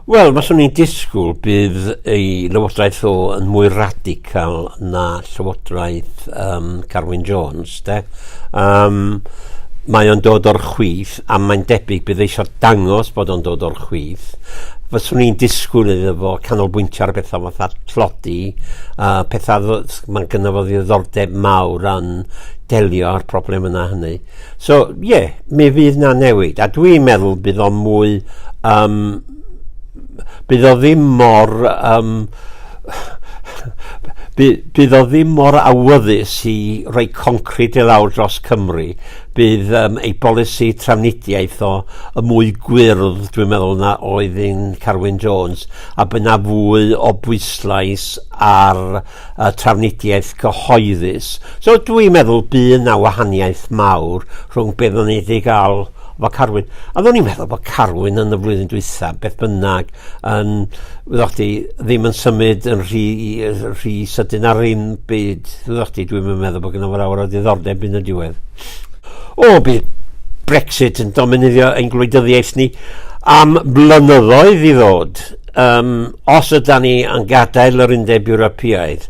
Wel, faswn i'n disgwyl bydd ei lywodraeth o yn mwy radical na llywodraeth um, Carwyn Jones, de. Um, mae o'n dod o'r chwith a mae'n debyg bydd eisiau dangos bod o'n dod o'r chwith. Faswn i'n disgwyl iddo fo canolbwyntio ar bethau fatha tlodi, uh, pethau mae'n gynnyfodd ddiddordeb mawr yn delio â'r problem yna hynny. So, ie, yeah, mi fydd na newid, a dwi'n meddwl bydd o'n mwy... Um, bydd o ddim mor... Um, bydd, bydd o ddim mor awyddus i roi concret i lawr dros Cymru. Bydd um, ei bolisi trafnidiaeth o y mwy gwyrdd, dwi'n meddwl, na oedd yn Carwyn Jones, a byna fwy o bwyslais ar y trafnidiaeth gyhoeddus. So dwi'n meddwl bu 'na wahaniaeth mawr rhwng be' oddwn ni 'di ga'l efo Carwyn. A oddwn i'n meddwl bod Carwyn yn y flwyddyn dwytha, beth bynnag, yn, wyddoch chdi, ddim yn symud yn rhy, rhy sydyn ar ddim byd. Wyddoch chdi, dwi'm yn meddwl bod gynno fo lawer o ddiddordeb yn y diwedd. O, bydd Brexit yn dominyddio ein gwleidyddiaeth ni am blynyddoedd i ddod. Um, os yda ni yn gadael yr undeb Ewropeaidd,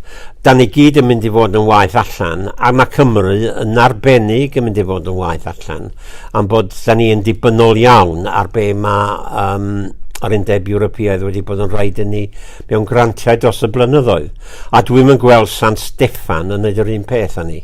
da ni gyd yn mynd i fod yn waith allan, a mae Cymru yn arbennig yn mynd i fod yn waith allan, am bod da ni yn dibynnol iawn ar be mae um, yr undeb Ewropeaidd wedi bod yn rhaid i ni mewn grantiau dros y blynyddoedd. A dwi'n mynd gweld San Steffan yn neud yr un peth â ni.